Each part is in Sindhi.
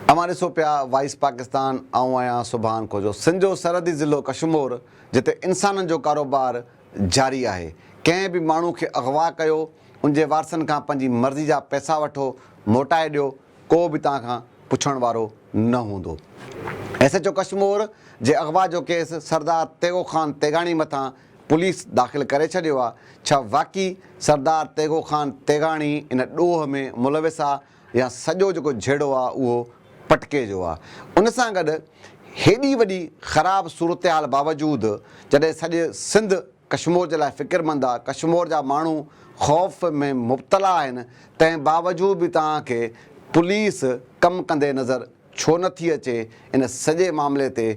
اوهان ڏسو پيا وائس پاڪستان آئون آهيان سبحان خوجو سنڌ جو سرحدي ضلعو ڪشمور جتي انسانن جو ڪاروبار جاري آهي ڪنهن به ماڻهو کي اغوا ڪيو ان جي وارثن کان پنهنجي مرضي جا پئسا وٺو موٽائي ڏيو ڪو به توهان کان پڇڻ وارو نه هوندو. ايس ايڇ او ڪشمور جي اغوا جو ڪيس سردار تيغو خان تيغاڻي مٿان پوليس داخل ڪري ڇڏيو آ، ڇا واقعي سردار تيغو خان تيغاڻي ان ڏوهه ۾ ملوث آ يا سڄو جيڪو جهيڙو آ اهو پٽڪي جو آ. ان سان گڏ هيڏي وڏي خراب صورتحال باوجود جڏهن سڄي سنڌ ڪشمور جي لاء فڪرمند آ، ڪشمور جا ماڻهو خوف ۾ مبتلا آهن تنهن باوجود به توهان کي پوليس ڪم ڪندي نظر ڇو نه ٿي اچي ان سڄي معاملي تي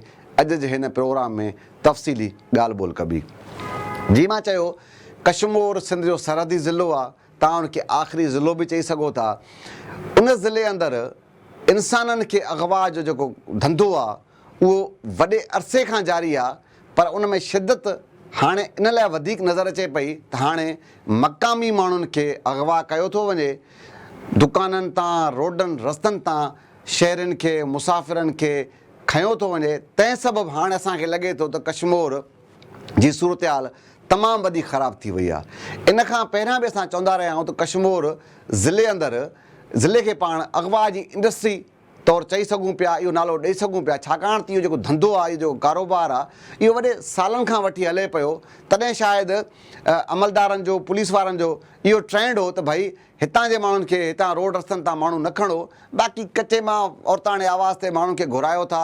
اڄ جي هن پروگرام ۾ تفصيلي ڳالهه ٻولهه ڪبي جيئن مان چيو ڪشمور سنڌ جو سرحدي ضلعو آ توهان ان کي آخري ضلعو به چئي سگهو ٿا ان ضلعي اندر انسانن کي اغوا جو جيڪو ڌنڌو آ اهو وڏي عرصي کان جاري آ. پر ان ۾ شدت هاڻي ان لاء وڌيڪ نظر اچي پئي ته هاڻي مقامي ماڻهن کي اغوا ڪيو ٿو وڃي، دڪانن تان، روڊن رستن تان شهرين کي، مسافرن کي کنيو ٿو وڃي، تنهن سبب هاڻي اسان کي لڳي ٿو ته ڪشمور جي صورتحال تمام وڏي خراب ٿي وئي آهي. ان کان پهريان به اسان چوندا رهيا آهيون ته ڪشمور ضلعي اندر ضلعي کي پاڻ اغوا جي انڊسٽري، طور چئي سگهون پيا، اهو نالو ڏئي سگهون پيا، ڇاڪاڻ ته اهو جيڪو ڌنڌو آهي، اهو جيڪو ڪاروبار آهي، اهو وڏي سالن کان وٺي هلي پيو، تڏهن شايد عملدارن جو، پوليس وارن جو اهو ٽرينڊ هو ته ڀئي هتان جي ماڻهن کي، هتان روڊ رستن تان ماڻهو نه کڻو، باقي ڪچي مان عورتاڻي آواز تي ماڻهن کي گهرايو ٿا،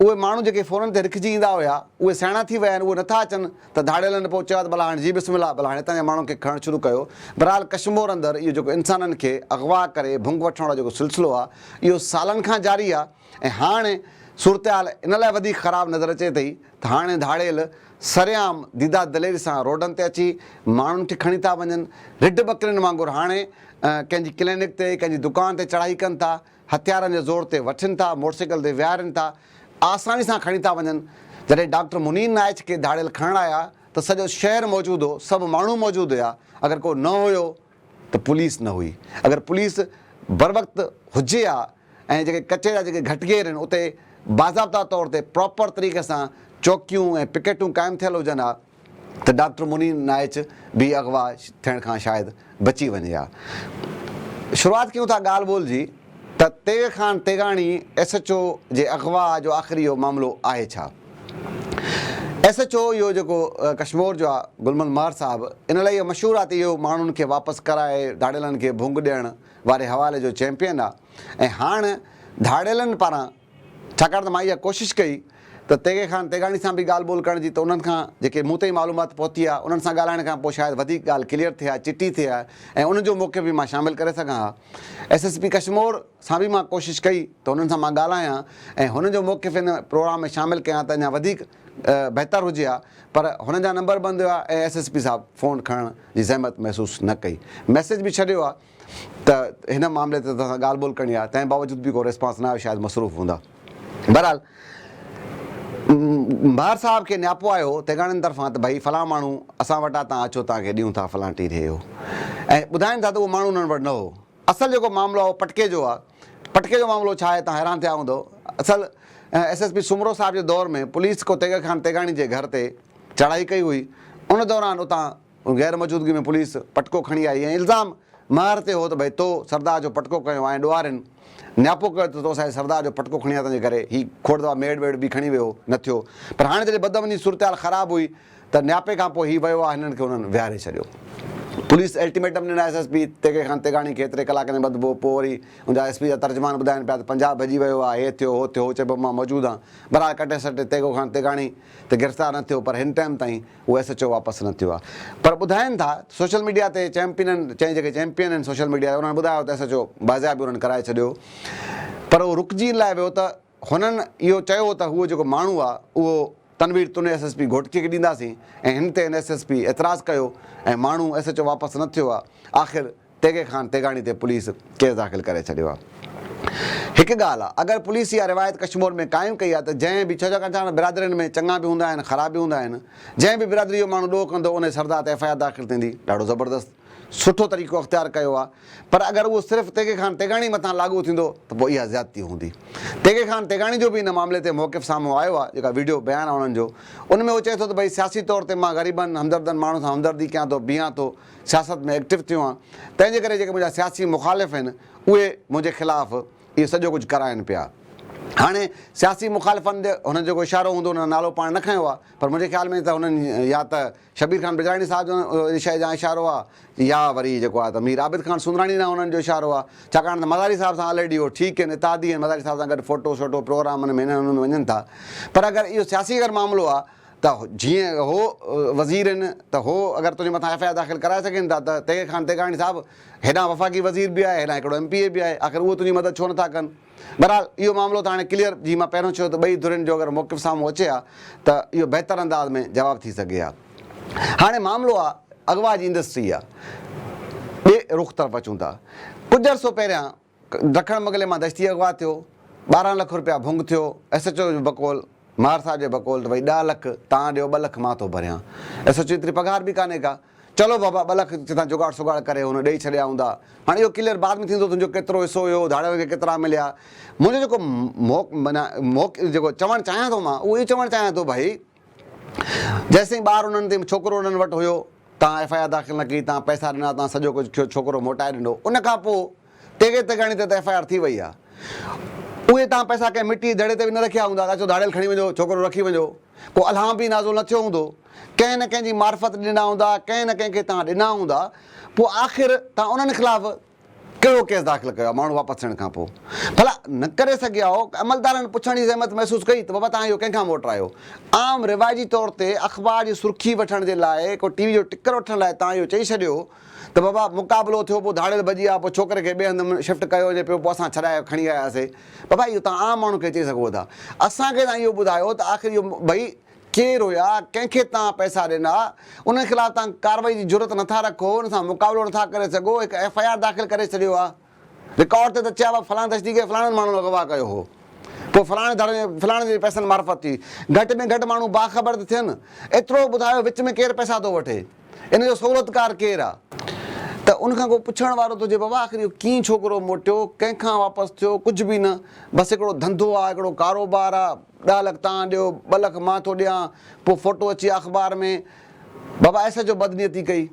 اهي ماڻهو جيڪي فونن تي رکجي ايندا هيا، اهي سياڻا ٿي ويا آهن، اهي نٿا اچن ته ڌاڙيلن نه پئو چيو ها ته ڀلا هاڻي جي بسم الله، ڀلا هاڻي هتان جي ماڻهن کي کڻڻ شروع ڪيو. بهرحال ڪشمور اندر اهو جيڪو انسانن کي اغوا ڪري ڀنگ وٺڻ وارو جيڪو سلسلو آهي، اهو سالن کان جاري آهي ۽ هاڻ صورتحال ان لاء وڌيڪ خراب نظر اچي ٿي ته هاڻي ڌاڙيل سرعام ديده دليري سان روڊن تي اچي ماڻهن کي کڻي ٿا وڃن، رڍ ٻڪرين وانگر هاڻي ڪنهن جي ڪلينڪ تي، ڪنهن جي دڪان تي چڙهائي ڪن ٿا، هٿيارن جي زور تي وٺين ٿا، موٽرسائيڪل تي ويهارين ٿا، آساني سان کڻي ٿا وڃن، جڏهن ڊاڪٽر منير نائچ کي ڌاڙيل کڻڻ آيا ته سڄو شهر موجود هو، سڀ ماڻهو موجود هيا، اگر ڪو نه هيو ته پوليس نه هئي، اگر پوليس بروقت هجي ها ۽ جيڪي ڪچي جا جيڪي گهٽ گهير آهن اتي باضابطا طور تي پراپر طريقي سان چوڪيون ۽ پڪيٽون قائم ٿيل هجن ها، ته ڊاڪٽر منير نائچ به اغوا ٿيڻ کان شايد بچي وڃي ها. شروعات ڪيون ٿا ڳالهه ٻولهه جي ته Tegh Khan Teghani S H O جي اغوا جو آخر اهو معاملو آهي ڇا؟ ايس ايڇ او اهو جيڪو ڪشمور جو آ گل محمد مهر صاحب ان لاء اهو مشهور آ ته اهو ماڻهن کي واپس ڪرائي ڌاڙيلن کي ڀونگ ڏيڻ واري حوالي جو چيمپيئن آ ۽ هاڻ ڌاڙيلن پاران ڇاڪاڻ ته مان اها ڪوشش ڪئي ته تيغي خان تيغاڻي سان به ڳالهه ٻولهه ڪرڻ جي ته انهن کان جيڪي مون تائين معلومات پهتي آهي انهن سان ڳالهائڻ کان پوء شايد وڌيڪ ڳالهه ڪليئر ٿئي ها چٽي ٿئي ها ۽ ان جو موقف به مان شامل ڪري سگهان ها ايس ايس پي ڪشمور سان به مان ڪوشش ڪئي ته انهن سان مان ڳالهايان ۽ هنن جو موقف ان پروگرام ۾ شامل ڪيان ته اڃا وڌيڪ بهتر هجي ها پر هنن جا نمبر بند هيا ۽ ايس ايس پي صاحب فون کڻڻ جي زحمت محسوس نه ڪئي ميسيج به ڇڏيو ها ته هن معاملي تي توهان سان ڳالهه ٻولهه ڪرڻي آهي، تنهن باوجود به ڪو ريسپانس نه آيو، شايد مصروف هوندا. بهرحال ميار صاحب کي نياپو آيو هو تيغاڻين طرفان ته ڀئي فلان ماڻهو اسان وٽ آ تان اچو توهان کي ڏيون ٿا فلان ٽي ڏهي هو ۽ ٻڌائين ٿا ته اهو ماڻهو انهن وٽ نه هو. اصل جيڪو معاملو آ اهو پٽڪي جو آ، پٽڪي جو معاملو ڇا آهي تان حيران ٿيا هوندؤ، اصل ايس ايس پي سومرو صاحب جي دور ۾ پوليس ڪو تيغ خان تيغاڻي جي گهر تي چڙهائي ڪئي هئي ان دوران اتان ان غير موجودگي ۾ پوليس پٽڪو کڻي آئي ۽ الزام ماهر تي هو ته ڀئي تو سردار جو پٽڪو کنيو آهي ۽ ڏوهارين نياپو ڪيو ته تو سائين سردار جو پٽڪو کڻي آيو تنهنجي ڪري هي کوڙ دفعا ميڙ ويڙ به کڻي ويو نه ٿيو پر هاڻي جڏهن بدامني صورتحال خراب هئي ته نياپي کان پوء هي ويو آ هنن کي هنن ويهاري ڇڏيو پوليس الٽيميٽم ڏنو S S P Teghi Khan Teghani کي ايتري ڪلاڪن ۾ ٻڌبو پوء وري ان جا ايس پي جا ترجمان ٻڌائين پيا ته پنجاب ڀڄي ويو آ هي ٿيو هو ٿيو هو چئبو مان موجود هان بهرحال ڪٽي سٽي تيغو خان تيغاڻي ته گرفتار نه ٿيو پر هن ٽائيم تائين هو ايس ايڇ او واپس نه ٿيو آهي پر ٻڌائين ٿا ته سوشل ميڊيا تي چيمپينن چئي جيڪي چيمپين آهن سوشل ميڊيا تي انهن ٻڌايو ته ايس ايڇ او بازياب انهن ڪرائي ڇڏيو پر اهو رڪجي ان لاء ويو ته هنن اهو چيو ته هو جيڪو ماڻهو آهي اهو تنوير تون ايس ايس پي گهوٽڪي کي ڏينداسين ۽ هن تي اين ايس ايس پي اعتراض ڪيو ۽ ماڻهو ايس ايڇ او واپس نه ٿيو آهي آخر تيغي خان تيغاڻي تي پوليس ڪيس داخل ڪري ڇڏيو آ. هڪ ڳالهه آ اگر پوليس اها روايت ڪشمور ۾ قائم ڪئي آ ته جنهن به ڇو ڇاڪاڻ ته هاڻ برادرين ۾ چڱا به هوندا آهن خراب به هوندا آهن جنهن به برادري جو ماڻهو ڏوهه ڪندو انهي سردا تي ايف آء آر داخل ٿيندي ڏاڍو زبردست سٺو طريقو اختيار ڪيو آ پر اگر اهو صرف تيغي خان تيغاڻي مٿان لاڳو ٿيندو ته پوء اها زيادتي هوندي تيغي خان تيغاڻي جو به ان معاملي تي موقف سامهون آيو آ جيڪا وڊيو بيان آ انهن جو ان ۾ اهو چئي ٿو ته ڀئي سياسي طور تي مان غريبن همدردن ماڻهن سان همدردي ڪيان ٿو بيهان ٿو سياست ۾ ايڪٽو ٿيو آهيان، تنهن جي ڪري جيڪي منهنجا سياسي مخالف آهن، اهي منهنجي خلاف اهو سڄو ڪجهه ڪرائين پيا. هاڻي سياسي مخالفن تي هنن جو جيڪو اشارو هوندو، هنن نالو پاڻ نه کنيو آهي، پر منهنجي خيال ۾ ته هنن يا ته شبير خان بجراڻي صاحب جو ان شيء جان اشارو آهي يا وري جيڪو آهي ته مير عابد خان سوندراڻي ڏانهن هنن جو اشارو آهي، ڇاڪاڻ ته مزاري صاحب سان آلريڊي اهو ٺيڪ آهن، اتحادي آهن، مزاري صاحب سان گڏ فوٽو شوٽو، پروگرامن ۾ هنن هنن ۾ وڃن ٿا، پر اگر اهو سياسي اگر معاملو آهي ته جيئن هو وزير هن ته هو اگر تنهنجي مٿان ايف آء آر داخل ڪرائي سگهن ٿا ته تيغ خان تيغاڻي صاحب هيڏانهن وفاقي وزير به آهي هيڏانهن هڪڙو ايم پي اي به آهي آخر اهو تنهنجي مدد ڇو نٿا ڪن بهرحال اهو معاملو ته هاڻي ڪليئر جي مان پهريون چيو ته ٻئي ڌرين جو اگر موقف سامهون اچي ها ته اهو بهتر انداز ۾ جواب ٿي سگهي ها هاڻي معاملو آهي اغوا جي انڊسٽري جا ٻئي رخ طرف اچون ٿا ڪجهه عرصو پهريان ڊکڻ مغلي مان دشتي اغوا ٿيو، ٻارهن لک روپيا ڀونگ ٿيو، ايس ايڇ او جو بقول، ماهر صاحب جي بقول ته ڀئي ڏهه لک توهان ڏيو ٻه لک مان ٿو ڀريان، ايس ايڇ او جي ايتري پگهار به ڪانهي ڪا، چلو بابا ٻه لک ڪٿان جوڳاڙ سوڳاڙ ڪري هن ڏئي ڇڏيا هوندا، هاڻ اهو ڪليئر بعد ۾ ٿيندو تنهنجو ڪيترو حصو هيو، ڌاڙيلن کي ڪيترا مليا، منهنجو جيڪو مئو مئو جيڪو چوڻ چاهيان ٿو مان اهو اهي چوڻ چاهيان ٿو ڀئي. جيستائين ٻار انهن تي ڇوڪرو انهن وٽ هيو تان ايف آء آر داخل نه ڪئي تان پئسا ڏنا تان سڄو ڪجهه ٿيو ڇوڪرو موٽائي ڏنو ان کان پوء تيغي تيغاڻي تي ته ايف آء آر ٿي وئي آ اهي تان پئسا ڪنهن مٽي جي دڙي تي به نه رکيا هوندا اچو ڌاڙيل کڻي وڃو ڇوڪرو رکي وڃو ڪو الهام به نازل نه ٿيو هوندو ڪنهن نه ڪنهن جي معرفت ڏنا هوندا ڪنهن نه ڪنهن کي تان ڏنا هوندا پوء آخر تان انهن خلاف ڪهڙو ڪيس داخل ڪيو آهي ماڻهو واپس ٿيڻ کان پوء ڀلا نه ڪري سگهيا هئو عملدارن پڇڻ جي زحمت محسوس ڪئي ته بابا توهان اهو ڪنهن کان موٽرايو عام رواجي طور تي اخبار جي سرخي وٺڻ جي لاء ڪو ٽي وي جو ٽڪر وٺڻ لاء توهان اهو چئي ڇڏيو ته بابا مقابلو ٿيو پوء ڌاڙيل ڀڄي آ پوء ڇوڪري کي ٻئي هنڌ شفٽ ڪيو وڃي پيو پوء اسان ڇڏائي کڻي آياسي بابا اهو توهان عام ماڻهو کي چئي سگهو ٿا اسان کي توهان اهو ٻڌايو ته آخر اهو ڀئي ڪير هيا، ڪنهن کي توهان پئسا ڏنا، انهن خلاف توهان ڪارروائي جي جرئت نٿا رکو، ان سان مقابلو نٿا ڪري سگهو، هڪ ايف آء آر داخل ڪري ڇڏيو آ، رڪارڊ تي ته چئي آ فلان دهشتي گرد فلاڻن ماڻهن اغوا ڪيو هو، پوء فلاڻي ڌڙ ۾ فلاڻن جي پئسن معرفت ٿي، گهٽ ۾ گهٽ ماڻهو باخبر ته ٿين، ايترو ٻڌايو وچ ۾ ڪير پئسا ٿو وٺي، ان جو سهولتڪار ڪير آ. ته ان کان ڪو پڇڻ وارو ته هجي بابا آخر اهو ڪيئن ڇوڪرو موٽيو، ڪنهن کان واپس ٿيو، ڪجهه به نه، بس هڪڙو ڌنڌو آ، هڪڙو ڪاروبار آ، ڏهه لک تان ڏيو ٻه لک مان ٿو ڏيان پوء فوٽو اچي اخبار ۾ بابا ايس ايڇ او بدنيتي ڪئي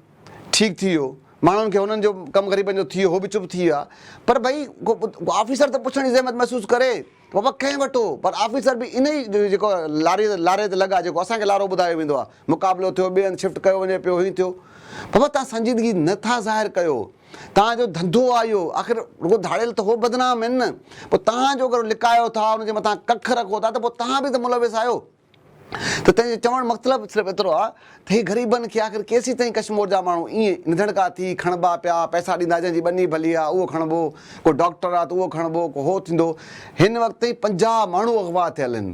ٺيڪ ٿي ويو ماڻهن کي هنن جو ڪم غريبن جو ٿي ويو هو به چپ ٿي ويا پر ڀئي ڪو آفيسر ته پڇڻ جي زحمت محسوس ڪري ته بابا ڪنهن وٽو پر آفيسر به ان ئي جيڪو لاري لاري تي لڳا جيڪو اسان کي لارو ٻڌايو ويندو آهي مقابلو ٿيو ٻئي هنڌ شفٽ ڪيو وڃي پيو هيئن ٿيو بابا تان سنجيدگي نه ٿا ظاهر ڪيو. توهان جو ڌنڌو آهي اهو، آخر رڳو ڌاڙيل ته هو بدنام آهن نه، پوء توهان جو اگر لڪايو ٿا، ان جي مٿان ڪک رکو ٿا ته پوء توهان به ته ملوث آهيو. ته تنهن جو چوڻ مطلب صرف ايترو آهي ته هي غريبن کي آخر ڪيسين تائين ڪشمور جا ماڻهو ائين نڌڻڪا ٿي کڻبا پيا، پئسا ڏيندا جنهن جي ٻني ڀلي آهي اهو کڻبو، ڪو ڊاڪٽر آهي ته اهو کڻبو، ڪو هو ٿيندو. هن وقت تائين پنجاهه ماڻهو اغوا ٿيل آهن.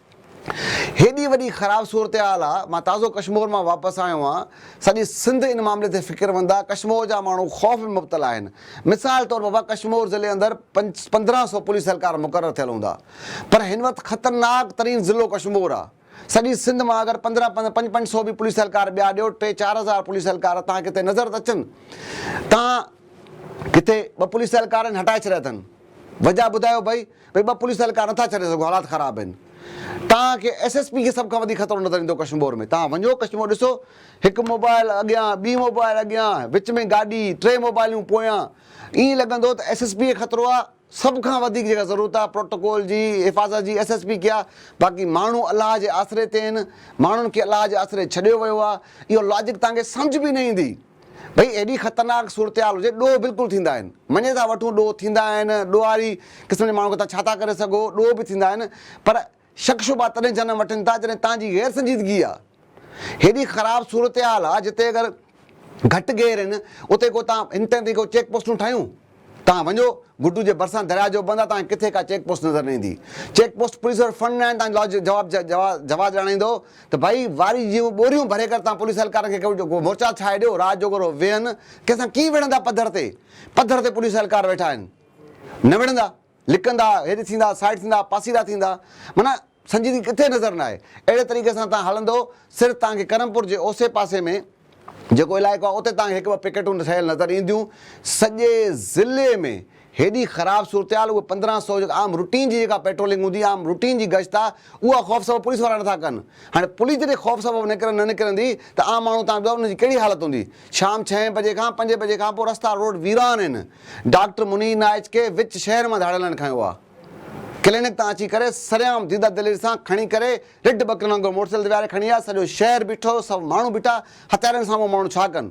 هيڏي وڏي خراب صورتحال آ، مان تازو ڪشمور مان واپس آيو آهيان، سڄي سنڌ ان معاملي تي فڪرمند آ، ڪشمور جا ماڻهو خوف ۾ مبتلا آهن، مثال طور بابا ڪشمور ضلعي اندر پندرهن سو پوليس اهلڪار مقرر ٿيل هوندا پر هن وقت خطرناڪ ترين ضلعو ڪشمور آ، سڄي سنڌ مان اگر پندرهن پنج پنج سو به پوليس اهلڪار ٻيا ڏيو، ٽي چار هزار پوليس اهلڪار توهان کي ڪٿي نظر ته اچن، توهان ڪٿي ٻه پوليس اهلڪارن هٽائي ڇڏيا اٿن، وجه ٻڌايو ڀئي. ڀئي ٻه پوليس اهلڪار نٿا ڇڏي سگهو حالات خراب آهن توهان کي ايس ايس پي کي سڀ کان وڌيڪ خطرو نظر ايندو ڪشمور ۾ توهان وڃو ڪشمور ڏسو هڪ موبائل اڳيان ٻي موبائل اڳيان وچ ۾ گاڏي ٽي موبائليون پويان ائين لڳندو ته ايس ايس پي کي خطرو آهي سڀ کان وڌيڪ جيڪا ضرورت آهي پروٽوڪول جي حفاظت جي ايس ايس پي کي آهي باقي ماڻهو الله جي آسري تي آهن ماڻهن کي الله جي آسري ڇڏيو ويو آهي اهو لاجڪ توهان کي سمجهه به نه ايندي. ڀئي ايڏي خطرناڪ صورتحال هجي، ڏوهه بلڪل ٿيندا آهن. مڃي ٿا وٺون ڏوهه ٿيندا آهن، ڏوهاري قسم جي ماڻهو کي توهان ڇا ٿا ڪري سگهو، ڏوهه به ٿيندا آهن، پر شڪ شبها تڏهن جنم وٺن ٿا جڏهن توهان جي غير سنجيدگي آ. هيڏي خراب صورتحال آ جتي اگر گهٽ گير آهن اتي ڪو توهان هن طرح جي ڪو چيڪ پوسٽون ٺاهيون. توهان وڃو، گڊو جي ڀرسان درياء جو بند آ، توهان کي ڪٿي ڪا چيڪ پوسٽ نظر نه ايندي. چيڪ پوسٽ پوليس وٽ فنڊ ناهن، توهان جو جواب جواز ڄاڻائيندو ته ڀائي واري جيون ٻوريون ڀري ڪر، توهان پوليس اهلڪارن کي ڪو مورچا ٺاهي ڏيو، رات جو ڳورو ويهن، ڪنهن سان ڪيئن وڙهندا پڌر تي، پڌر تي پوليس اهلڪار ويٺا آهن، نه وڙهندا. لڪندا، هيڏ ٿيندا، سائيڊ ٿيندا، پاسيرا ٿيندا، معنيٰ سنجيدگي ڪٿي نظر نه آئي. اهڙي طريقي سان تان هلندؤ، سر تان کي ڪرمپور جي اوسي پاسي ۾ جيڪو علائقو آهي، اتي تان کي هڪ ٻه پڪيٽون ٺهيل نظر اينديون. سڄي ضلعي ۾ هيڏي خراب صورتحال، اهي پندرهن سؤ جيڪا عام روٽين جي جيڪا پيٽرولنگ هوندي، عام روٽين جي گشت آ، اها خوف سبب پوليس وارا نٿا ڪن. هاڻي پوليس جڏهن خوف سبب نڪرن نه نڪرندي ته عام ماڻهو تان جو ان جي ڪهڙي حالت هوندي. شام ڇهين بجي کان پنج بجي کان پوء رستا روڊ ويران آهن، ڊاڪٽر منير نائچ کي وچ شهر مان ڌاڙيل نه کنيو آ، ڪلينڪ تان اچي ڪري سرعام ديده دلير سان کڻي ڪري رڍ ٻڪرين وانگر موٽرسائيڪل تي ويهاري کڻي آ، سڄو شهر بيٺو، سڀ ماڻهو بيٺا، هٿيارين سان اهو ماڻهو ڇا ڪن؟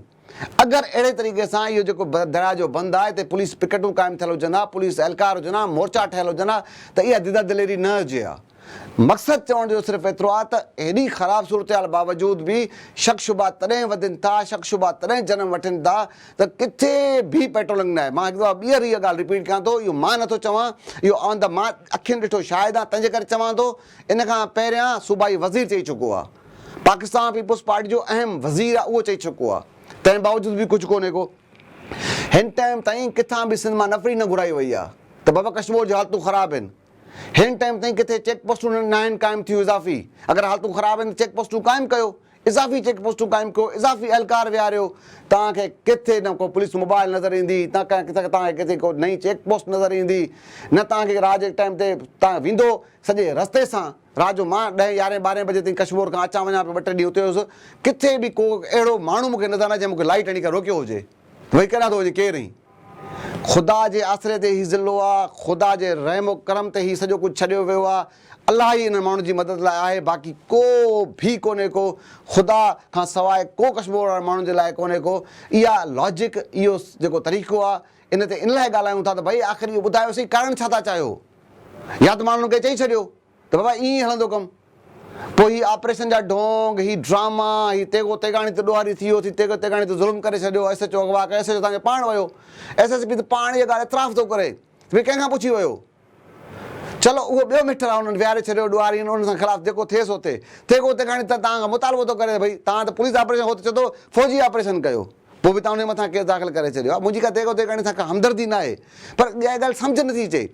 اگر اهڙي طريقي سان اهو جيڪو درياء جو بند آ اتي پوليس پڪيٽون قائم ٿيل هجن ها، پوليس اهلڪار هجن ها، مورچا ٺهيل هجن ها ته اها ديده دليري نه هجي ها. مقصد چوڻ جو صرف ايترو آهي ته هيڏي خراب صورتحال باوجود به شڪ شبها تڏهن وڌين ٿا، شڪ شبها تڏهن جنم وٺين ٿا ته ڪٿي به پيٽرولنگ ناهي. مان هڪ دفعا ٻيهر اها ڳالهه رپيٽ ڪيان ٿو، اهو مان نٿو چوان، اهو آن دي مان اکين ڏٺو شاهد آهيان تنهنجي ڪري چوان ٿو، ان کان پهريان صوبائي وزير چئي چڪو آهي. پاڪستان پيپلز پارٽي جو اهم وزير آهي اهو چئي چڪو آهي. تنهن باوجود به ڪجهه ڪونهي ڪو. هن ٽائيم تائين ڪٿان به سنڌ مان نفري نه گهرائي وئي آهي ته بابا ڪشمور جون حالتون خراب آهن. هن ٽائيم تائين ڪٿي چيڪ پوسٽون ناهن قائم ٿيون اضافي اگر حالتون خراب آهن ته چيڪ پوسٽون قائم ڪيو اضافي چيڪ پوسٽون قائم ڪيو اضافي اهلڪار ويهاريو توهان کي ڪٿي نه ڪو پوليس موبائل نظر ايندي نه ڪنهن ڪٿي توهان کي ڪٿي ڪو نئين چيڪ پوسٽ نظر ايندي نه توهان کي رات جي ٽائيم تي توهان ويندو سڄي رستي سان رات جو مان ڏهين يارهين ٻارهين بجي تائين ڪشمور کان اچان وڃان پيو ٻه ٽي ڏينهن اتي هيس ڪٿي به ڪو اهڙو ماڻهو مون کي نظر نه آيو جنهن مون کي لائٽ هڻي ڪري روڪيو هجي ته ڀئي ڪيڏانهن ٿو وڃين ڪير آهين خدا جي آسري تي هي ضلعو آ، خدا جي رحم و ڪرم تي هي سڄو ڪجهه ڇڏيو ويو آ، الله ئي انهن ماڻهن جي مدد لاء آهي باقي ڪو ڀي ڪونهي ڪو خدا کان سواء ڪو ڪشمور وارن ماڻهن جي لاء ڪونهي ڪو اها لاجڪ اهو جيڪو طريقو آ ان تي ان لاء ڳالهايون ٿا ته ڀئي آخر اهو ٻڌايو سهي ڪارڻ ڇا ٿا چاهيو يا ته ماڻهن کي چئي ڇڏيو ته بابا ائين ئي هلندو ڪم. پوء هي آپريشن جا ڍونگ، هي ڊراما، هي تيغو تيغاڻي ته ڏوهاري ٿي ويو، ٿي تيغو تيغاڻي ته ظلم ڪري ڇڏيو، ايس ايڇ او اغوا ڪيو، ايس ايڇ او تان کي پاڻ ويو، ايس ايس پي ته پاڻ اها ڳالهه اعتراف ٿو ڪري ته ڀئي ڪنهن کان پڇي ويو. چلو اهو ٻيو ميٽر آهي انهن ويهاري ڇڏيو، ڏوهاري ان سان خلاف جيڪو ٿئي سو ٿئي. تيغو تيغاڻي ته توهان کان مطالبو ٿو ڪري ته ڀئي توهان ته پوليس آپريشن هو ته چئي ٿو فوجي آپريشن ڪيو. پوء به توهان انهيء مٿان ڪيس داخل ڪري ڇڏيو آهي. منهنجي ڪا تيغ و تيغاڻي سان ڪا همدردي ناهي. پر اها ڳالهه سمجهه نٿي اچي.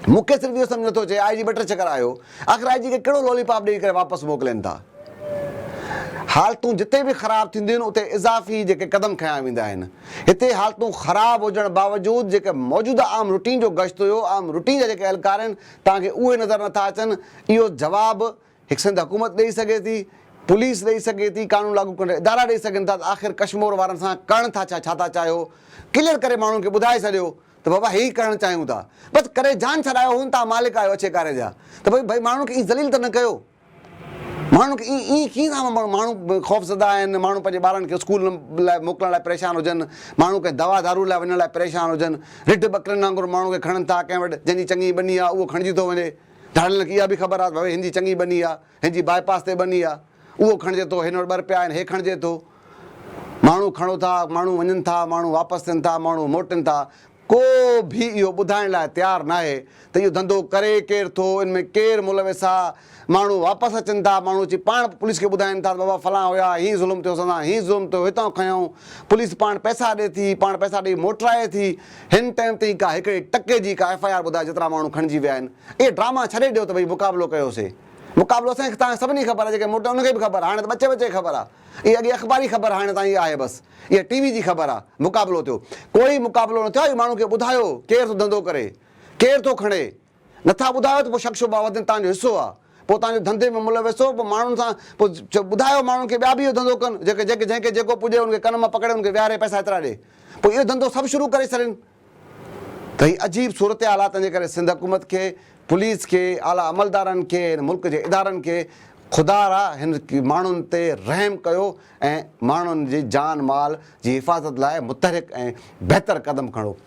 مون کي صرف اهو سمجهه نٿو اچي، آء جي ٻه ٽي چڪر آيو. آخر آء جي کي ڪهڙو لالي پاپ ڏيئي ڪري واپس موڪلين ٿا. حالتون جتي به خراب ٿينديون آهن اتي اضافي جيڪي قدم کنيا ويندا آهن. هتي حالتون خراب هجڻ باوجود جيڪي موجوده عام روٽين جو گشت هيو، عام روٽين جا جيڪي اهلڪار آهن، توهان کي اهي نظر نٿا اچن. اهو جواب هڪ سنڌ حڪومت ڏئي سگهي ٿي، پوليس ڏئي سگهي ٿي، قانون لاڳو ڪرڻ جا ادارا ڏئي سگهن ٿا ته آخر ڪشمور وارن سان ڪرڻ ٿا ڇا، ڇا ٿا چاهيو، ڪليئر ڪري ماڻهن کي ٻڌائي ڇڏيو ته بابا هي ڪرڻ چاهيون ٿا، بس ڪري جان ڇڏايو هون تان مالڪ آهيو اڇي ڪاري جا ته ڀئي ڀئي ماڻهن کي ائين ذليل ته نه ڪيو، ماڻهن کي ائين ائين ڪيئن ٿا ماڻهو خوفزده آهن، ماڻهو پنهنجي ٻارن کي اسڪول لاء موڪلڻ لاء پريشان هجن، ماڻهو ڪنهن دوا دارو لاء وڃڻ لاء پريشان هجن، رڍ ٻڪرين وانگر ماڻهو کي کڻن ٿا، ڪنهن وٽ جنهن جي چڱي ٻني آهي اهو کڻجي ٿو وڃي. ڌاڙيلن کي اها به خبر آ ته ڀوي هنجي چڱي ٻني آ، هنجي باء پاس تي ٻني آ، اهو کڻجي ٿو، هن وٽ ٻر پيا آهن، هي کڻجي ٿو. ماڻهو کڻو ٿا، ماڻهو وڃن ٿا، ماڻهو واپس ٿين ٿا، ماڻهو موٽين ٿا، ڪو به اهو ٻڌائڻ لاء تيار ناهي ته اهو ڌنڌو ڪري ڪير ٿو، ان ۾ ڪير ملوث آ، ماڻهو واپس اچن ٿا، ماڻهو اچي پاڻ پوليس کي ٻڌائين ٿا ته بابا فلان هيا، هيئن ظلم ٿيو، اسان سان هيئن ظلم ٿيو، هتان کنيائون، پوليس پاڻ پئسا ڏي ٿي، پاڻ پئسا ڏئي موٽرائي ٿي، هن ٽائيم تائين ڪا هڪڙي ٽڪي جي ڪا ايف آء آر ٻڌاء جيترا ماڻهو کڻجي ويا آهن. اهي ڊراما ڇڏي ڏيو ته ڀئي مقابلو ڪيو سي. مقابلو اسان کي تان سڀني خبر آهي جيڪي موٽا ان کي به خبر آهي هاڻي ته ٻچي ٻچي کي خبر آهي. اهي اڳي اخباري خبر هاڻي تان اهي آهي بس. اهي ٽي وي جي خبر آهي. مقابلو ٿيو. ڪوئي مقابلو نه ٿيو آهي ماڻهو کي ٻڌايو ڪير ٿو ڌنڌو ڪري. ڪير ٿو کڻي. نٿا ٻڌايو ته پوء شڪ شبها وڌن تهان جو حصو آ پوء تهان جو ڌنڌي ۾ ملوث هو پوء ماڻهن سان پوء ٻڌايو ماڻهن کي ٻيا به اهو ڌنڌو ڪن جيڪي جيڪي جنهن کي جيڪو پڄي ان کي ڪن مان پڪڙي ان کي ويهاري پئسا ايترا ڏي پوء اهو ڌنڌو سڀ شروع ڪري ڇڏين ته هي عجيب صورتحالاتن جي ڪري سنڌ حڪومت کي پوليس کي اعليٰ عملدارن کي هن ملڪ جي ادارن کي خدا را هن ماڻهن تي رحم ڪيو ۽ ماڻهن جي جان مال جي حفاظت لاء متحرڪ ۽ بهتر قدم کڻو.